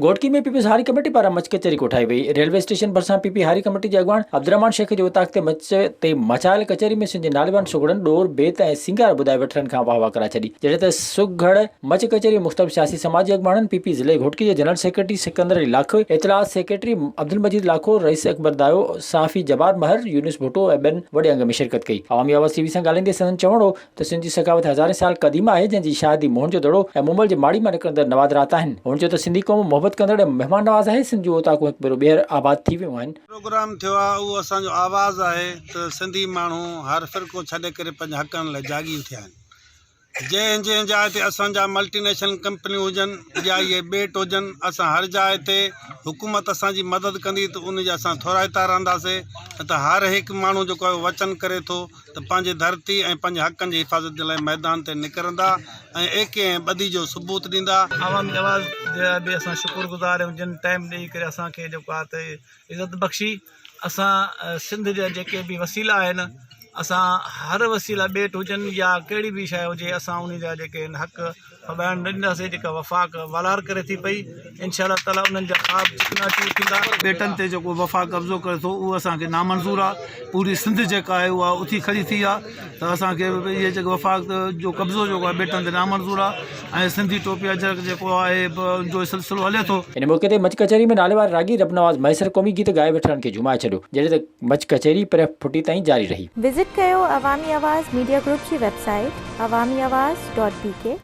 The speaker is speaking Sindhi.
گهوٽڪي ۾ پيپلز هاري ڪميٽي پاران مچ ڪچهري ڪوٺائي وئي، ريلوي اسٽيشن ڀرسان پي پي هاري ڪميٽي جي اڳواڻ عبدالرحمان شيخ جي اوطاق تي مچ تي مچايل ڪچهري ۾ سنڌ جي ناليوان سگهڙن ڏور، بيت ۽ سينگار ٻڌائي وٺلن کان واهوا ڪرائي ڇڏي، جڏهن ته سگهڙ مچ ڪچهري مختلف سياسي سماجي اڳواڻن، پي پي ضلعي گهوٽڪي جي جنرل سيڪريٽري سڪندر علي لاکو، اطلاعات سيڪريٽري عبدالمجيد لاکو، رئيس اڪبر دايو، صحافي جبار مهر، يونس ڀٽو ۽ ٻين وڏي انگ ۾ شرڪت ڪئي. عوامي آواز ٽي وي سان ڳالهائيندي سندن چوڻ هو ته سنڌ جي سخاوت هزارين سال قديم آهي، جنهن جي شاهدي موهن جو دڙو ۽ مومل جي ماڙي مان نڪرندڙ نوادرات آهن. هن چيو ته سنڌي قوم محبت ڪندڙ ۽ مهمان نواز آهي، سنڌ جون اوطاقون هڪ ڀيرو ٻيهر آباد ٿي ويون آهن. پروگرام ٿيو آهي اهو اسان جو آواز آهي ته سنڌي ماڻهو هر فرقو ڇڏي ڪري پنهنجي حقن لاء جاڳي اٿيا آهن جنهن جنهن جاء تي اسان جا ملٽي نيشنل ڪمپنيون هجن يا اهي ٻيٽ هجن اسان هر جاء تي حڪومت اسان جي مدد ڪندي ته ان جي اسان ٿورائتا رهنداسين نه ته هر هڪ ماڻهو جيڪو آهي اهو وچن ڪري ٿو ته پنهنجي ڌرتي ۽ پنهنجي حقن جي حفاظت جي لاء ميدان تي نڪرندا ۽ ايڪي ۽ ٻڌي جو ثبوت ڏيندا. عوامي آواز جي لاء به اسان شڪر گذار آهيون جن ٽائيم ڏئي ڪري اسان کي جيڪو آهي ته عزت بخشي اسان سنڌ جا جيڪي به وسيلا آهن اسان هر وسيلا ٻيٽ هجن يا ڪهڙي به شايد هجي اسان انهي جا جيڪي آهن حق سدائين نه ڏينداسين جيڪا وفاق والار ڪري ٿي پئي انشاء الله تعالٰي انهن جا خواب جتنا چور ٿيندا ٻيٽن تي جيڪو وفاق قبضو ڪري ٿو اهو اسانکي نامنظور آهي پوري سنڌ جيڪا آهي اها اٿي کڙي ٿي آهي ته اسانکي اهي جيڪو وفاق جو قبضو جيڪو آهي ٻيٽن تي نامنظور آهي ۽ سنڌي ٽوپي اجرڪ جيڪو آهي ان جو سلسلو هلي ٿو ان موقعي تي مچ ڪچهري ۾ ناليوار راڳي رب نواز مهيسر قومي گيت ڳائي ويٺلن کي جهومائي ڇڏيو جڏهن ته مچ ڪچهري پرهه ڦٽي تائين جاري رهي. وزٽ ڪيو عوامي آواز ميڊيا گروپ جي web site Awami Awaz dot بي ڪي.